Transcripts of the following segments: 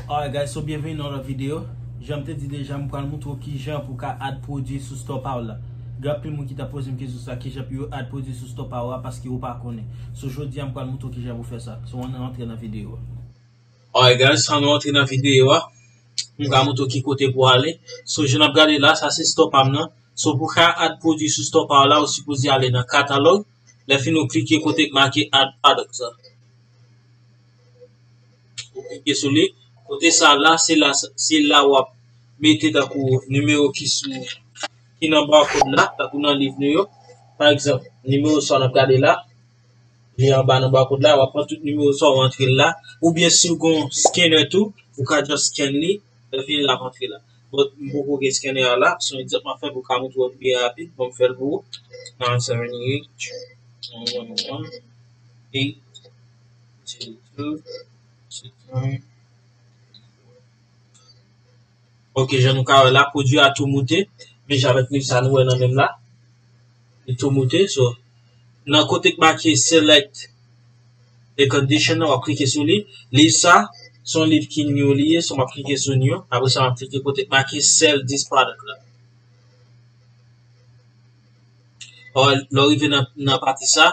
Alright guys so byenveni nan yon lòt video Janm te di deja m pral moutre w kijan pou w ka add pwodwi sou store pa w la Gen anpil moun ki t ap poze m kesyon sa kijan pou yo add pwodwi sou store pa w a paske yo pa konnen So jodi a m pral moutre w kijan pou w fè sa So ann rantre nan video a. Alright guys ann rantre nan video a M pral moutre w ki kote pou w ale So jan n ap gade la sa se store pa m nan So pou w ka add pwodwi sou store pa w la ou sipoze ale nan katalòg Lè fini ou klike kote ki make add products la. Ou klike sou li. Kote sa la, se la se la w ap mete tankou nimewo ki sou ki nan barcode la, tankou nan liv nou yo. Pa egzanp, nimewo 100 n ap gade la, li anba nan barcode la, w ap pran tout nimewo 100 w antre l la. Oubyen si w gon scanner tou, ou ka just scan li, lè l fini l ap antre la. Bon, m poko gen scanner a la, se yon egzanp m ap fè pou w ka montre w li byen rapid. Bon, m fè l pou ou. 970 H1111 P. Ok jan nou ka wè la pwodwi a tou moute men jan avèk sa nou wè nan menm la li tou moute so nan kote k make select e condition nan wap klike sou li liv sa son liv ki new li ye so map klike sou new apre sa map klike kote k make sell this product la lè w rive nan pati sa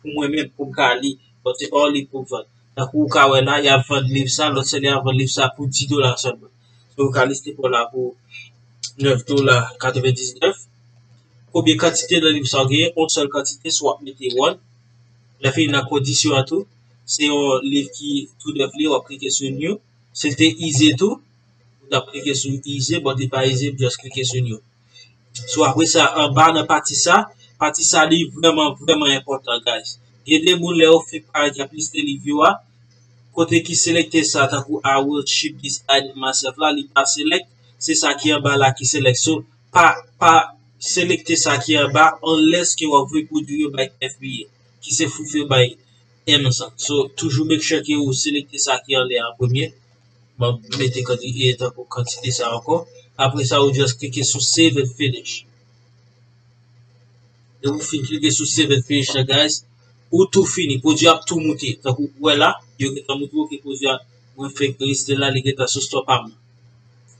pou mwen menm pou m ka li bon se or li pou vann tankou ou ka wè la yap vann liv sa lòt sè li ap vann liv sa pou 10 dola sèlman se ou ka liste pou la pou 9 dola 99 konbyen kantite nan liv sa ou genyen on sèl kantite sou wap mete one lè fini nan kondisyon an tou se yon liv ki tou nèf li wap klike sou new si l te ize tou ou tap klike sou ize bon li pa ize ou jès klike sou new. So apre sa anba nan pati sa, pati sa li vreman vreman enpotan guys. Gen de moun lè yo fenk pa gen plis de liv yo a, kote ki selekte sa tankou I will ship this guide in myself la li pa select, se sa ki anba la ki select. So pa pa selekte sa ki anba unless ke wap vle pwodwi yo bay FBA ki se foufe bay Amazon. So toujou make sure ke ou selekte sa ki anlè an premye. Map mete kantite sa ankò. Apre sa ou just klike sou save and finish. Lè ou fin klike sou save and finish la guys, ou tou fini. Pwodui a ap tou moute. Tankou ou wè la, yo gentan montre ou ke pwodui a, mwen fenk liste la, li gentan sou store pa mwen.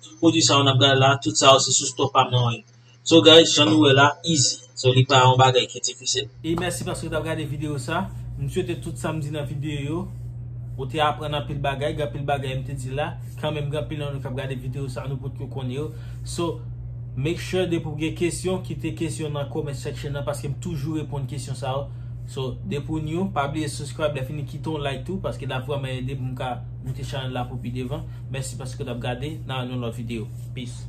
Tout pwodui sa yo nap gade la, tout sa yo se sou store pa mwen yo. So guys jan nou wè la easy so li pa yon bagay ki difisil. E mèsi paske tap gade video sa. M swete tout sam di nan video yo ou te aprann anpil bagay, gen anpil bagay m te di la kanmenm gen anpil nan nou kap gade video sa nou potko konn yo so make sure depi w gen kesyon kite kesyon nan comment section nan paske m toujou reponn kesyon sa yo so depi w new pa bliye subscribe lèfini kite yon like tou paske lap vrèman ede pou m ka moute chanèl la pou pi devan mèsi paske w tap gade nan yon lòt video peace.